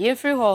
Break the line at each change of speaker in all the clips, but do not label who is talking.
Yɛfiri hɔ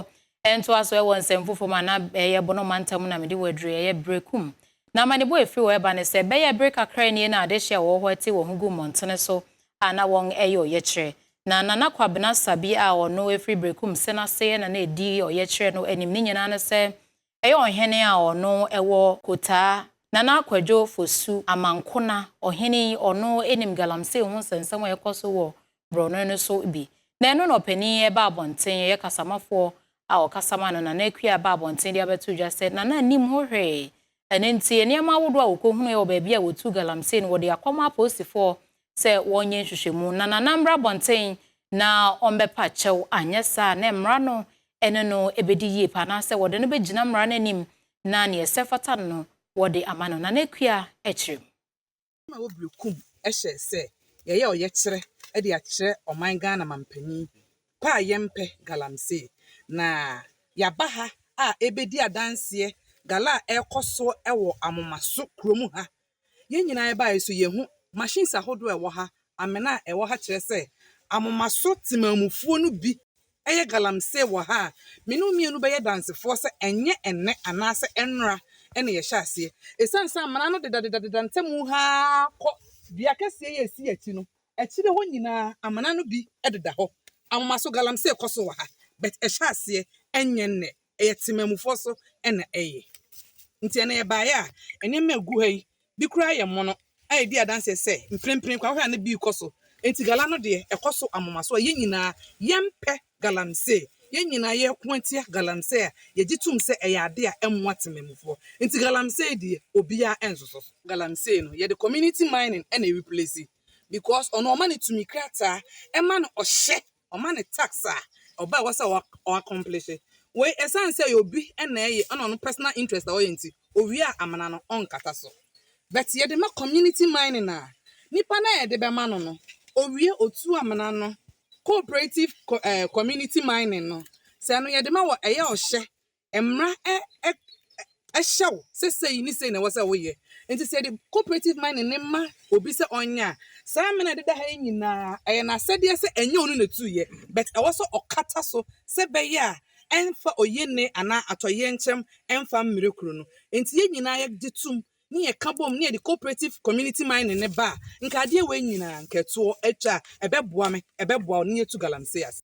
ntoa so wɔ nsɛm foforɔ mu anaa ɛyɛ Bono mantam mu na mede wɔ aduro yi, ɛyɛ Berekum. Na amanebɔ a ɛfiri hɔ ɛba ne sɛ, ɛbɛyɛɛ bere kakra nie na adehyeɛ a wɔwɔ hɔ te wɔn ho gu mmɔntene so a na wɔn ɛyɛ ɔyɛkyerɛ. Na Nana Kwabena Sabi a ɔno ɛfiri Berekum Sena aseɛ na na ɛdi ɔyɛkyerɛ no anim ne nyinaa ne sɛ Ɛyɛ ɔhene a ɔno ɛwɔ Kotaa, Nana Kwadwo Fosu Amankona. Ɔhene yi, ɔno ɛnim Galamsey ho nsɛnsɛm a ɛkɔ so wɔ Borɔno no so bi. Na ɛno na ɔpanin ɛba abɔnten, ɛyɛ kasamafoɔ a ɔkasa ma no, Nana Akua ɛba abɔnten de abɛto dwa sɛ Nana nnim ho hwee. Ɛno nti, nneɛma ahodoɔ a wɔkɔhunuuɛ wɔ baabi a wɔtuu Galamsey no, wɔde akɔma apolisifoɔ sɛ wɔnyɛ nhwehwɛmu na Nana mmra abɔnten na ɔmmɛpa kyɛw, anyɛ saa a na mmara no ne no bɛdi yie paa anaasɛ wɔde no bɛgyina mmara no anim na nea ɛsɛ fata no no wɔde ama no, Nana Akua kyerɛ mu. Ɛma
Wobiri Kum hyɛɛ sɛ yɛyɛ ɔyɛkyerɛ de akyerɛ ɔman Ghana manpanin pa a yɛmpɛ galamsey na yɛaba ha a ɛrebɛdi adanseɛ gala a ɛrekɔ soɔ wɔ Amomaso kurom ha Yɛn nyinaa yɛbae yi so yɛahu machines ahodoɔ a ɛwɔ ha, amena a ɛwɔ ha kyerɛ sɛ amomaso temanmufoɔ no bi yɛ galamsee wɔ ha a me ne wo mmienu bɛyɛ dansefoɔ sɛ ɛnyɛ ɛnnɛ anaasɛ ɛnnora na yɛhyɛ aseɛ. Ɛsiane sɛ amena no deda deda deda ntam ha ara kɔ dua kɛseɛ yi a ɛsi yɛn akyi no, akyire hɔ nyinaa amena no bi deda hɔ. Amomaso galamsee kɔ so wɔ ha but ɛhyɛ aseɛ ɛnyɛ nnɛ. ɛyɛ temanmufoɔ so na ɛyɛ. Nti ɛnna yɛbaeɛ a, nneɛma a ɛgu ha yi, bi koraa yɛ mono a ɛdi adanseɛ sɛ mprempren koraa wohwɛ a na bi rekɔ so. Nti gala no deɛ, ɛkɔ so amoma so a yɛn nyinaa yɛmpɛ galamsey. Yɛn nyinaa yɛko atia galamsey a yɛgye tom sɛ ɛyɛ adeɛ a ɛmmoa temanmufoɔ. Nti galamsey deɛ, obiara nsoso so. Galamsey no, yɛde community mining na ɛreplesi because ɔno wɔma no tumi krataa, ɛma no ɔhyɛ Wɔma no task a ɔba a ɛwɔ sɛ ɔ accomplishye. Wei ɛsiane sɛ obi na ɛyɛ ɛna ɔno personal interest na ɔyɛ nti, owie a amena no ɔnkata so. But yɛde ma community mining a, nipa no a yɛde bɛma no no, owie otu amena no, cooperative community mining no, sɛ ɛno yɛde ma wɔ ɛyɛ ɔhyɛ mmara hyɛ wo sɛ sei ne sei na ɛwɔ sɛ woyɛ. Nti sɛ yɛde cooperative mining no ma obi sɛ ɔnyɛ a, saa mmara a ɛdeda ha yi nyinaa, ɛyɛ n'asɛdeɛ sɛ ɛnyɛ ɔno na ɛtuiɛ, but ɛwɔ sɛ ɔkata so sɛ ɛbɛyɛ a ɛmfa oyenee anaa atɔyerɛnkyɛm mfa mmrɛ kuro no. Nti yɛn nyinaa yɛgye tom ne yɛka bom ne yɛde cooperative community mining no ba a, nka adeɛ wei nyinaa, nka ɛtoɔ atwa a, ɛbɛboa me, ɛbɛboa wo ne yɛatu galamsey ase.